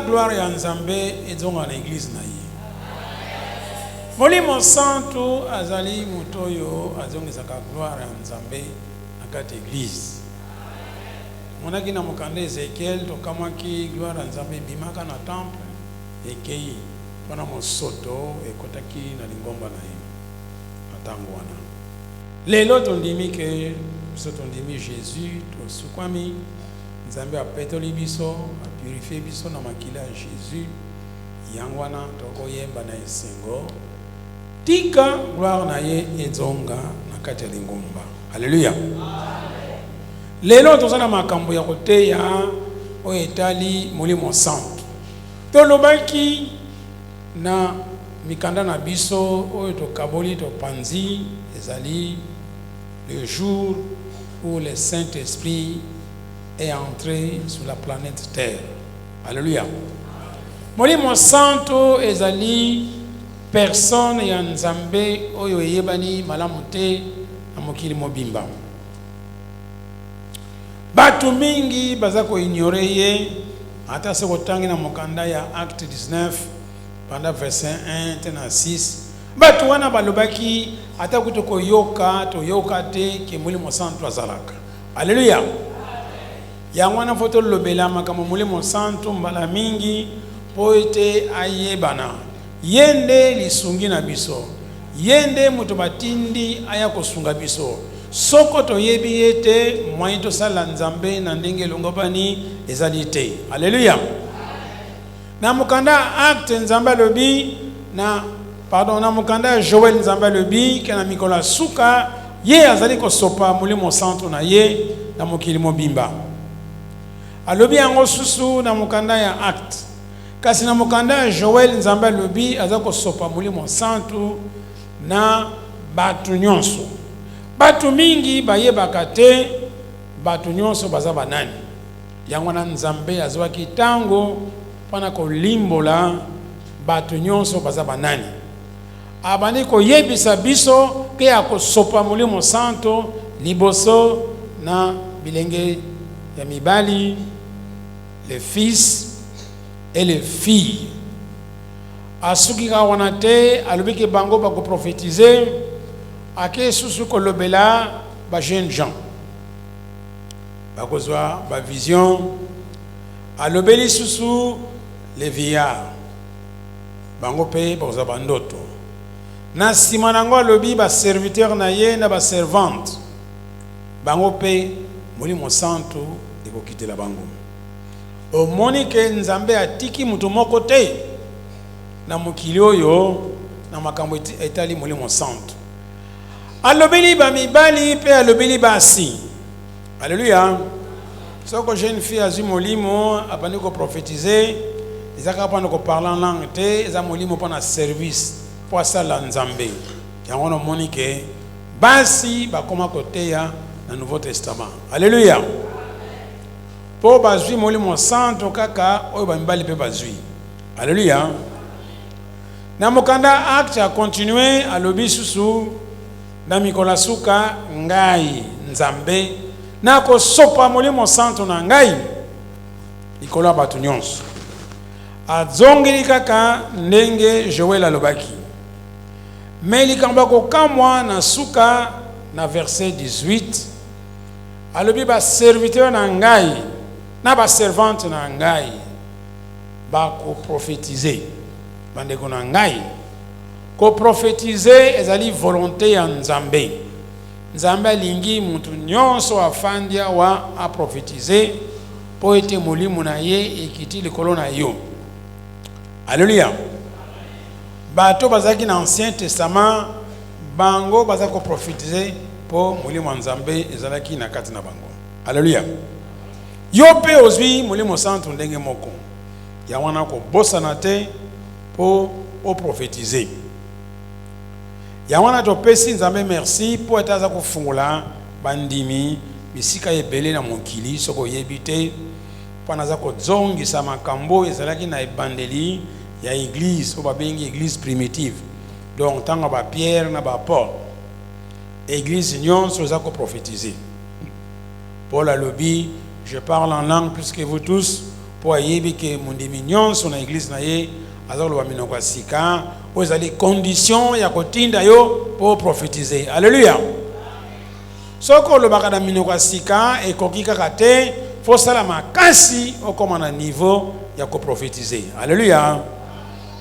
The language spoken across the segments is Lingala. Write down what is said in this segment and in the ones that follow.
gloire ya Nzambe ezonga na eglise na ye. Molimo Santu azali moto oyo azongisaka gloire ya Nzambe na kati ya eglise. Monaki na mokanda Ezekiel, tokamwaki gloire ya Nzambe ebimaka na temple, ekei mpona mosoto ekotaki na lingomba na ye na ntango wana. Lelo tondimi ke biso tondimi Jesus, tosukwami. Nzambe apetoli biso, a purifier biso na makila ya Jesus, yango wana toko yemba na esengo, Tika gloire na ye ezonga na kati ya lingomba. Alleluia! Lelo toza na makambo ya koteya oyo etali Molimo Santu. Tolobaki na mikanda na biso oyo tokaboli, topanzi, ezali. Le jour où le saint esprit est entre sur la planète terre alleluia molimo santu ezali personne ya nzambe oyo eyebani malamu te na mokili mobimba batu mingi baza ko ignorer ye ata soki otangi na mokanda ya acte 19 banda verset 1 tee na 6 Bato wana balobaki, Ata kutu koyoka toyoka te ke Molimo Santu azalaka. Aleluya! Yango wana, faut tolobela makambo ya Molimo Santu mbala mingi mpo ete ayebana. Ye nde lisungi na biso. Ye nde moto batindi aya kosunga biso. Soko toyebi ye te, moyen tosalela Nzambe na ndenge elongobani ezali te. Aleluya! Na mokanda ya Actes, Nzambe alobi na, pardon, na mokanda ya Joel, Nzambe alobi ke na mikolo ya suka Ye azali kosopa Molimo Mosantu na Ye na mokili mobimba. Alobi yango susu na mokanda ya Actes. Kasi na mokanda ya Joel, Nzambe alobi aza kosopa Molimo Mosantu na batu nionso. Batu mingi bayebaka te batu nionso baza ba nani. Yango wana Nzambe azwaki ntango mpo na kolimbola bato nyonso baza banani. Abandi koyebisa biso mpe akosopa Molimo Santo liboso na bilenge ya mibali, les fils et les filles. Asuki kaka wana te, alobi ke bango bako prophetiser, ake susu kolobela ba jeunes gens. Bakozwa ba vision. Alobeli lisusu les vieillards. Bango pe bakozwa ba ndoto. Na sima nango alobi ba serviteurs na ye na ba servantes. Bango pe Molimo Santu ekokitela bango. Omoni que Nzambe atiki moto moko te na mokili oyo na makambo etali Molimo Santu. Alobeli ba mibali pe alobeli basi. Alleluia. Soko jeune fille azwi molimo abandi ko prophétiser eza kaka pona ko parler en langue te eza molimo pona service po asala Nzambe yango wana omoni ke basi bakoma koteya na nouveau testament. Alleluia. Po bazwi molimo santu kaka oyo ba mibali pe bazwi. Alleluia. Na mokanda Actes a continuer alobi susu. Na mikolo ya suka, Ngai, Nzambe, nakosopa Molimo Santu na Ngai likolo ya bato nyonso. Azongeli kaka ndenge Joele alobaki. Mais likambo ya kokamwa, na suka, na verset 18, alobi, Ba serviteurs na Ngai na ba servantes na Ngai bakoprofetize. Bandeko na Ngai! Ko prophetiser ezali volonte ya Nzambe. Nzambe alingi mutu nionso afandi awa a prophetiser po ete molimo na ye ekiti likolo na yo. Alleluia! Batu oyo bazalaki na Ancien Testament bango bazalaki ko prophetiser po molimo ya Nzambe ezalaki na kati na bango. Alleluia! Yo pe ozui molimo santu ndenge moko, yango wana kobosana te. po o prophetise yango wana topesi nzambe merci po ete aza kofungola ba ndimi bisika ebele na mokili soki oyebi te po naza kozongisa makambo oyo ezalaki na ebandeli ya eglise oyo babengi eglise primitive donc ntango ya ba pierre na ba paul eglise nyonso eza ko prophetise paul alobi je parle en langue plus que vous tous mpo ayebi que mondimi nionso na eglise na ye aza koloba minoko ya sika, oyo ezali condition ya kotinda yo mpo o prophetiser. Alleluia! Soki olobaka na minoko ya sika, ekoki kaka te, faut osala makasi okoma na niveau ya ko prophetiser. Alleluia!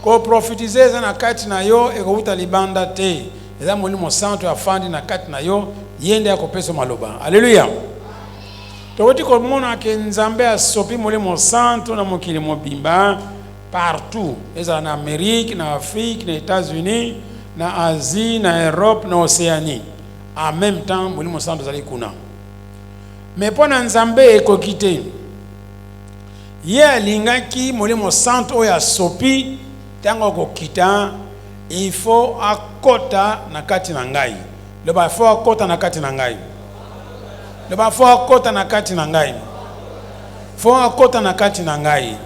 Ko prophetiser eza na kati na yo, ekowuta libanda te, eza Molimo Santu afandi na kati na yo, ye nde akopesa yo maloba. Alleluia! Towuti komona que Nzambe asopi Molimo Santu na mokili mobimba partout, ezala na Amerique, na Afrique, na Etats-Unis, na Asie, na Europe, na Oceanie. En meme temps, Molimo Santu azali kuna. Mais mpo na Nzambe ekoki te. Ye alingaki Molimo Santu oyo asopi tango akokita il faut akota na kati na ngai. Loba fort kota na kati na ngai. Loba fort kota na kati na ngai. Fort kota na kati na ngai.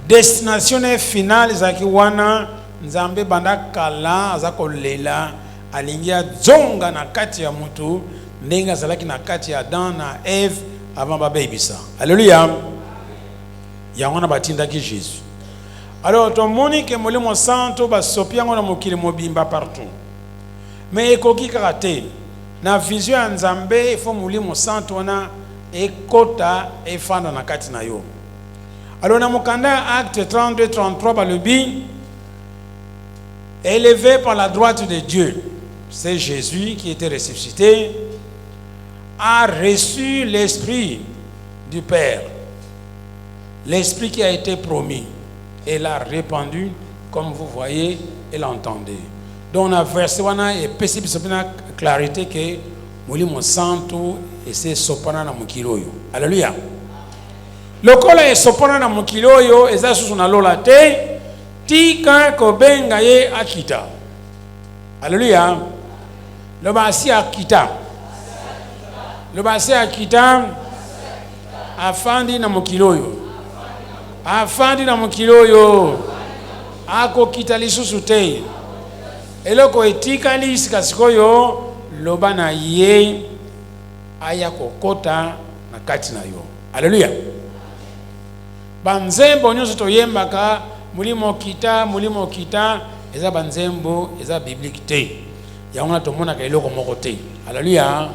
Destination na finale ezalaki wana Nzambe banda kala aza kolela alingi azonga na kati ya mutu ndenge azalaki na kati ya Adam na Eve avant babebisa. Alléluia. Yango na batindaki Jésus. Alors tomoni que Molimo Santo basopi yango na mokili mobimba partout. mais ekoki kaka te na vision ya nzambe il faut molimo santu wana ekota efanda na kati na yo alors na mokanda ya acte 32 33 balobi eleve par la droite de dieu c'est jésus qui était ressuscité a reçu l'esprit du Père, l'Esprit qui a été promis, et l'a répandu, comme vous voyez et l'entendez. Donc na verset wana epesi biso pena clarite ke molimo santu esi esopana na mokili oyo. Aleluya! Lokola esopana na mokili oyo, eza susu na lola te, tika kobenga ye akita. Aleluya! Loba asi akita. Loba asi akita. Afandi na mokili oyo. Afandi na mokili oyo. Akokita lisusu te. Eloko etikali sika sikoyo loba na ye aya kokota na kati na yo. Aleluya. Banzembo nyonso toyembaka molimo kita, molimo kita eza banzembo eza biblique te. Yango wana tomonaka eloko moko te. Aleluya!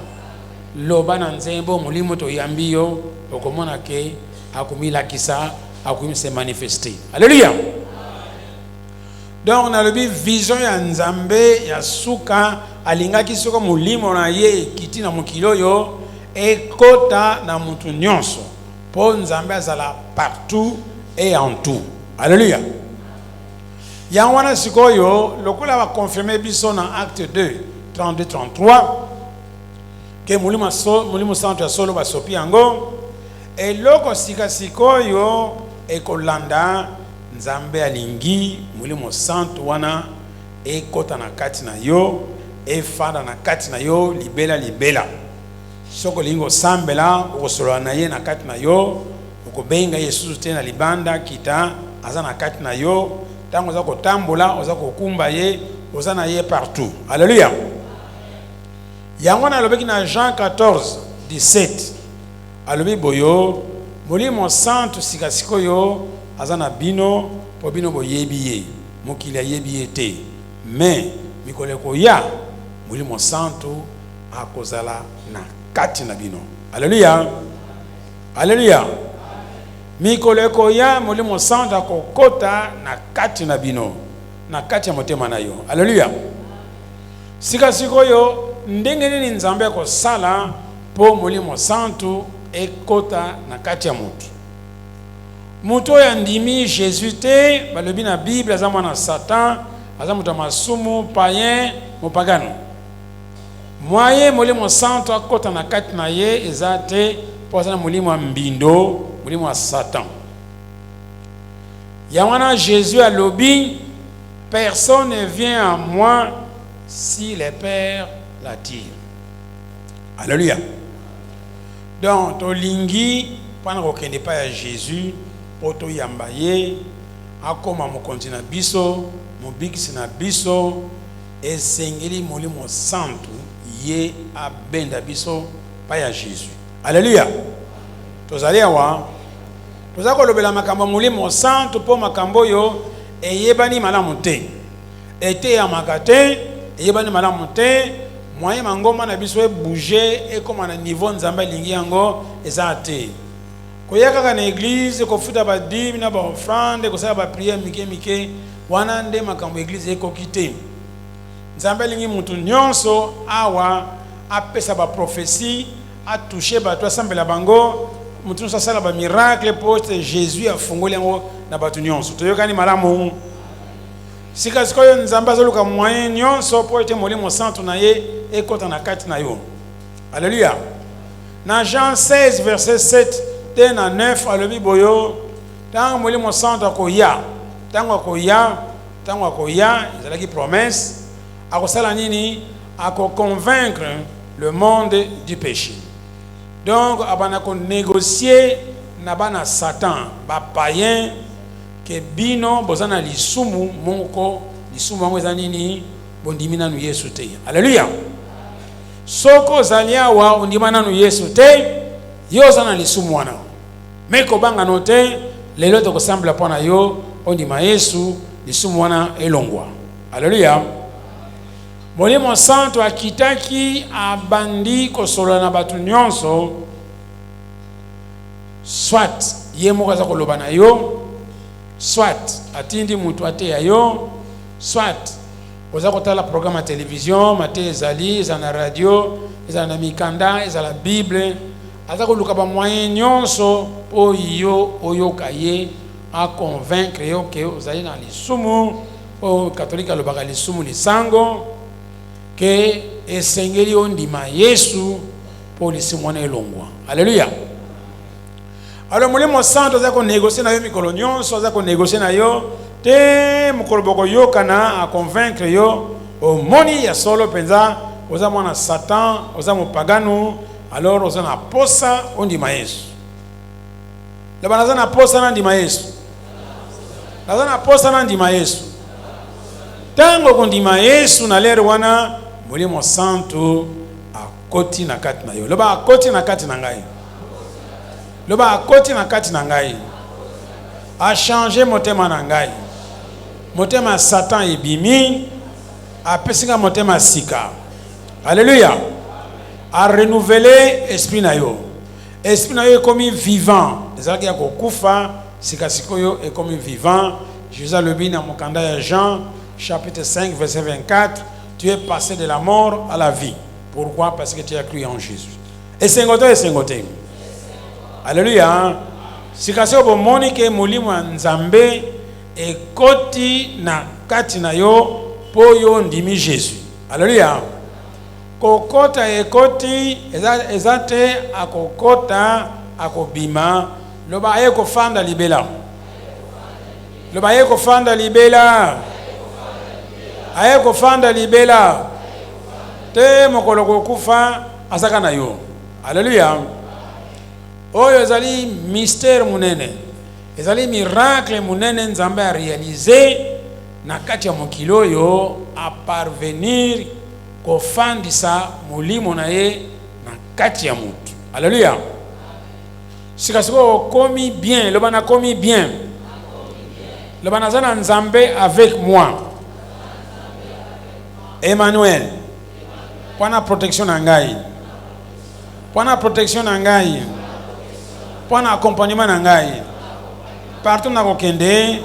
Loba na nzembo, Molimo toyambi yo, okomona ke akomilakisa, akomi se manifester. Aleluya! Donc nalobi vision ya Nzambe ya suka alingaki soko molimo na ye ekiti na mokili oyo ekota na mutu nyonso mpo Nzambe azala partout et en tout. Aleluya! Yango wana sikoyo, lokola ba confirmer biso na Acte 2, 32, 33, ke Molimo ya solo, Molimo Santu ya solo basopi yango, eloko sika sikoyo ekolanda, Nzambe alingi Molimo Santu wana ekota na kati na yo, efanda na kati na yo libela libela. Soki olingi kosambela, okosolola na Ye na kati na yo, Okobenga ye lisusu te na libanda, kita aza na kati na yo, tango oza kotambola, oza kokumba ye, oza na ye partout. Alleluia! Yango wana alobaki na Jean 14, 17, alobi boyo, Molimo Santu sika sikoyo aza na bino, po bino boyebi ye, mokili ayebi ye te, mais mikolo ekoya, Molimo Santu akozala na kati na bino. Alleluia! Alleluia! Mikolo ekoya Molimo Santu akokota na kati na bino, na kati ya motema na yo. Alleluia! Sika sikoyo, ndenge nini Nzambe akosala po Molimo Santu ekota na kati ya mutu? Mutu oyo andimi Jesus te, balobi na Bible, aza mwana ya Satan, aza mutu ya masumu, paien, mopagano. Moyen Molimo Santu akota na kati na ye eza te po aza na molimo ya mbindo, molimo ya Satan. Yango wana Jesus alobi personne ne vient à moi si le Père l'attire. Alléluia. Donc tolingi pana kokende epai ya Jesus po toyamba ye akoma mokonzi na biso, mobikisi na biso. Esengeli molimo santu ye abenda biso epai ya Jesus. Aleluya! Tozali awa, tozali kolobela makambo ya molimo santu mpo makambo oyo eyebani malamu te, eteyamaka te, eyebani malamu te, moyen mangomba na biso ebouger ekoma na niveau Nzambe alingi yango eza te. Koya kaka na eglise, kofuta ba dime na ba offrande, kosala ba prière mike mike, wana nde makambo eglise ekoki te. Nzambe alingi mutu nionso awa apesa ba prophetie, a toucher batu, asambela bango, mutu nionso asala ba miracle po ete Jesus afungoli yango na batu nionso. Toyokani malamu? Sika sikoyo Nzambe azoluka moyen nionso po ete Molimo Santu na ye ekota na kati na yo. Aleluya! Na Jean 16 verset 7 tee na 9 alobi boyo, ntango Molimo Santu akoya, ntango akoya, ntango akoya, ezalaki promesse, akosala nini? Ako convaincre le monde du peche. Donc abanda ko negocier na bana Satan, ba païens, ke bino boza na lisumu moko, lisumu yango eza nini? Bondimi nanu Yesu te. Aleluya! Soki ozali awa ondima nanu yesu te yo oza na lisumu wana mais kobanga no te lelo toko sambla mpo na yo ondima yesu lisumu wana elongwa aleluya molimo santu akitaki abandi kosolola na bato nyonso soit ye moko aza koloba na yo soit atindi moto ateya yo soit Oza kotala programme ya television, mateya ezali, ezala na radio, ezala na mikanda, ezala Bible. Aza koluka ba moyens nionso mpo yo oyoka ye, a convaincre yo que ozali na lisumu, mpo catholique alobaka lisumu lisango, que esengeli ondima Yesu mpo lisumu wana elongwa. Alleluia! Alors molimo santo aza ko négocier na yo mikolo nyonso, aza ko négocier na yo te mokolo bokoyokana a convaincre yo omoni ya solo mpenza oza mwana satan oza mopaganu alors oza na posa ondima yesu loba naza na posa nandima yesu naza na posa nandima yesu ntango okondima yesu na lere wana molimo santu Akoti na kati na yo. Loba akoti na kati na ngai. Loba akoti na kati na ngai. A changer motema na ngai. Motema Satan ebimi. Apesi nga motema sika. Alléluia. A renouveler esprit na yo. Esprit na yo ekomi vivant. Ezalaki ya kokufa sika sikoyo ekomi vivant. Jésus alobi na mokanda ya Jean chapitre 5 verset 24 tu es passe de la mort à la vie pourquoi parce que tu as cru en Jesus esengo to esengo te alleluia sikasio bomoni ke molimo ya nzambe ekoti na kati na yo mpo yo ondimi jésus alleluia kokota ekoti eza, eza te akokota akobima loba aye kofanda libela Loba aye kofanda libela. Aye kofanda libela. Te mokolo kokufa azaka na yo. Aleluya. Oyo ezali mystère munene. Ezali miracle munene Nzambe a realiser na kati ya mokili oyo a parvenir kofandisa molimo na ye na kati ya mutu. Aleluya. Sika sikoyo okomi bien, loba nakomi bien. Loba naza na Nzambe avec moi. Emmanuel. Mpo na protection na ngai. Mpo na protection na ngai. Mpo na accompagnement na ngai. Partout nakokende,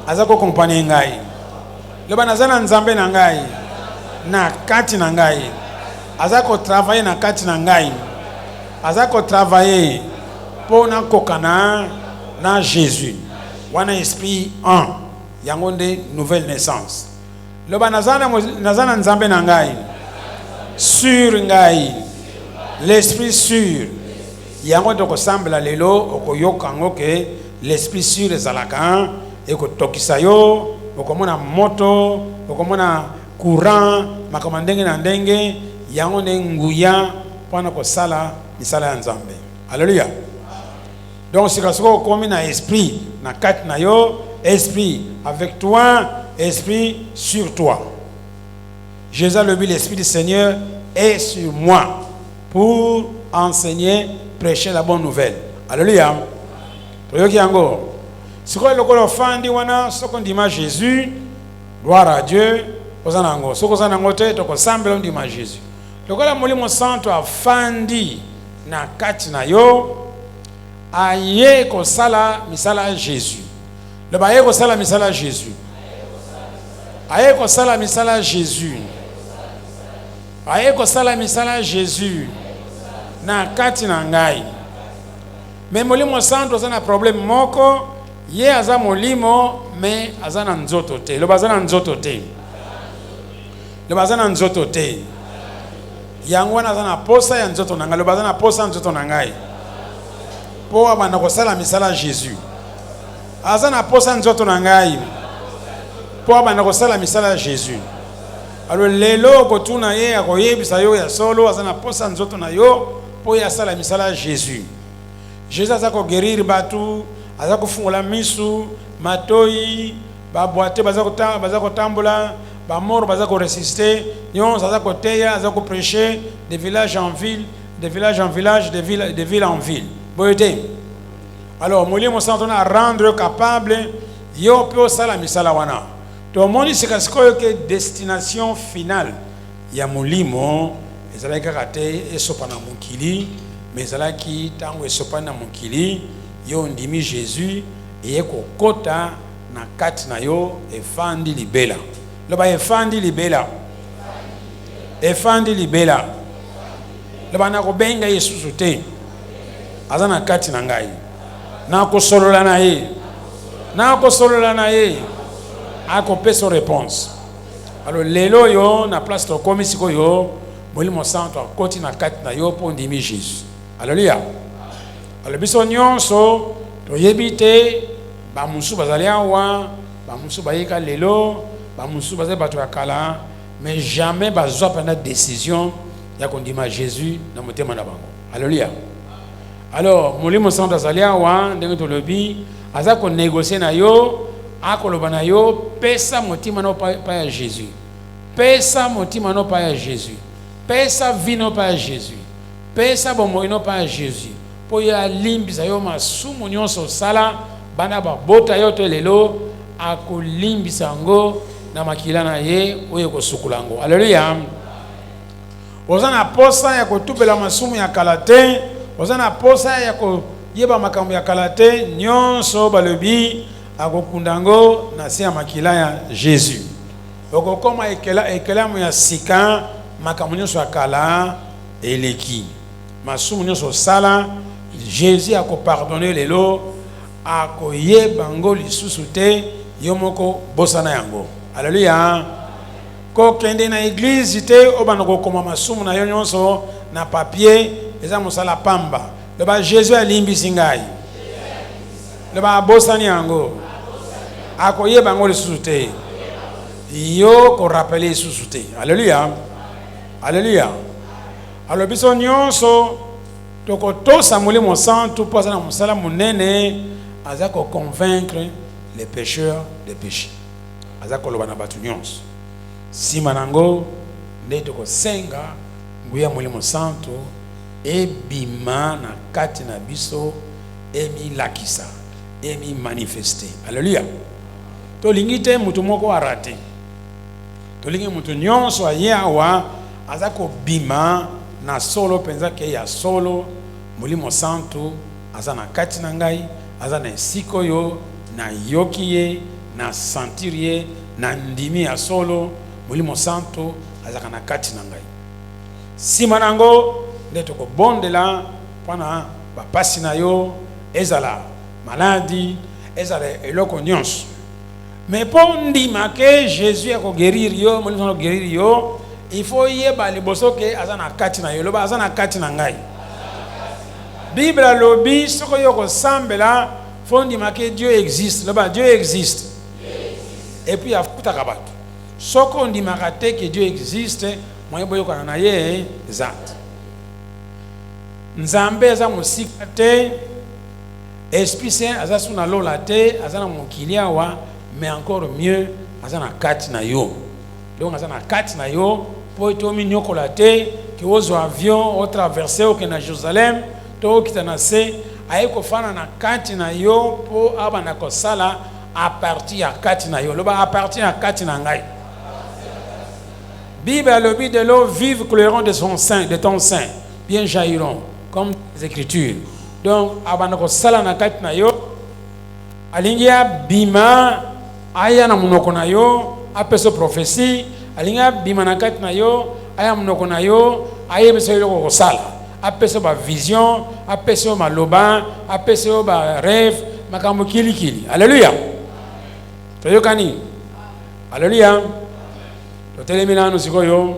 aza ko accompagner ngai. Loba naza na Nzambe na ngai. Na kati na ngai. Aza ko travailler na kati na ngai. Aza ko travailler po na kokana na Jesus. Wana esprit en. Yango nde nouvelle naissance. Loba naza na naza na Nzambe na ngai. Sur ngai. L'esprit sur. Yango toko sambela lelo okoyoka yango ke l'esprit sur ezalaka ekotokisa yo okomona moto okomona courant, makambo ya ndenge na ndenge, yango nde nguya mpo na kosala misala ya Nzambe. Aleluya! Donc sika soko okomi na esprit na kati na yo, esprit avec toi, esprit sur toi. Jésus alobi l'esprit du Seigneur est sur moi pour enseigner, prêcher la bonne nouvelle. Aleluya! Toyoki yango. Sikoyo lokola ofandi wana, soko ndima Jésus Gloire à Dieu oza na yango soki oza na yango te toko sambela ondima Jesus lokola molimo santu afandi na kati na yo aye kosala misala ya Jesus loba aye kosala misala ya Jesus aye kosala misala ya Jesus aye kosala misala ya Jesus na kati na ngai me molimo santu oza na problème moko Ye aza molimo mais aza na nzoto te. Loba aza na nzoto te. Loba aza na nzoto te. Yango wana aza na posa ya nzoto na ngai. Loba aza na posa ya nzoto na ngai. Po abanda kosala misala Jésus. Aza na posa nzoto na ngai. Po abanda kosala misala Jésus. Alo lelo okotuna ye akoyebisa yo ya solo aza na posa nzoto na yo po ye asala misala Jésus. Jesus aza ko guerrir batu, aza kofungola misu, matoyi, ba boiteux baza kotanga, baza kotambola, ba morts baza ko ressusciter, nionso aza koteya, aza ko precher de village en ville, de village en village, de ville, de ville en ville. Boye te? Alors Molimo Santu na rendre capable yo pe osala misala wana. Tomoni sika sikoyo ke destination finale ya molimo ezalaki kaka te esopa na mokili mais ezalaki tango esopani na mokili yo ondimi Jesus eye kokota na kati na yo efandi libela loba efandi libela efandi libela loba nakobenga ye susu te aza na kati na ngai nakosolola na ye nakosolola na ye akopesa réponse Alors lelo oyo na place tokomi sikoyo molimo santo akoti na kati na yo mpo ondimi Jésus. Alléluia. Alors biso nyonso toyebi te bamosusu bazali awa, bamosusu bayika lelo, bamosusu bazali bato ya kala, mais jamais bazwa mpena décision ya kondima Jésus na motema na bango. Alléluia. Alors molimo santu azali awa ndenge tolobi aza ko negocier na yo akoloba na yo pesa motima no pa ya Jésus pesa motima no pa ya Jésus pesa vie no pa ya Jésus pesa bomoi no pa ya Jésus mpo ye alimbisa yo masumu nyonso osala banda babota yo to lelo akolimbisa yango na makila na ye oyo ekosukola yango aleluya Oza na posa ya kotubela masumu ya kala te, oza na posa ya koyeba makambo ya kala te, nionso balobi akokunda yango na se ya makila ya Jesus. Okokoma ekela, ekelamu ya sika, makambo nionso ya kala eleki. Masumu nionso osala, Jesus akopardonner lelo, akoyeba yango lisusu te, yo moko bosana yango. Alleluia! Kokende na eglise te obanda kokoma masumu na yo nyonso na papier eza mosala pamba. Loba, Jesus alimbisi ngai. Loba, abosani yango. Akoyeba yango lisusu te. Yo ko rappeler lisusu te. Alléluia. Alléluia. Alors biso nyonso tokotosa Molimo Santu mpo aza na mosala monene, aza ko convaincre les pécheurs de péché. aza koloba na bato nyonso. Nsima na yango nde tokosenga nguya ya Molimo Santu ebima na kati na biso, emilakisa, emimanifeste. Aleluya! Tolingi te moto moko arate. Tolingi moto nyonso aye awa aza kobima na solo mpenza ke ya solo Molimo Santu Aza na kati na ngai, aza na esika oyo na yoki ye, na sentir ye, na ndimi ya solo Molimo Santo azalaka na kati na ngai. Sima na yango nde toko bondela pona ba pasi na yo, ezala maladi, ezala eloko nionso. Mais po ndima ke Jesus ako guerir yo, Molimo Santu ako guerir yo, il faut yeba liboso ke aza na kati na yo. Loba aza na kati na ngai. Bible alobi soko yo kosambela faut ndima ke Dieu existe. Loba Dieu existe. Et puis afutaka bato. Soko ondimaka te ke Dieu existe, moye boyokana na ye eza te. Nzambe aza mosika te. Esprit saint aza su na lola te aza na mokili awa mais encore mieux aza na kati na yo donc aza na kati na yo po ete ominiokola te ke ozwa avion o traverse okende na Jerusalem to okita na se aye kofana na kati na yo po abanda kosala a partir ya kati na yo loba a partir ya kati na ngai Bible alobi de l'eau vive couleront de son sein de ton sein bien jairon comme les écritures donc abanda kosala na kati na yo alingi abima aya na monoko na yo apesa prophesie alingi abima na kati na yo aya monoko na yo ayebisa yo eloko kosala apesa yo bavision apesa yo maloba apesa yo bareve makambo kilikili aleluya toyokani aleluya totelemi nanu sikoyo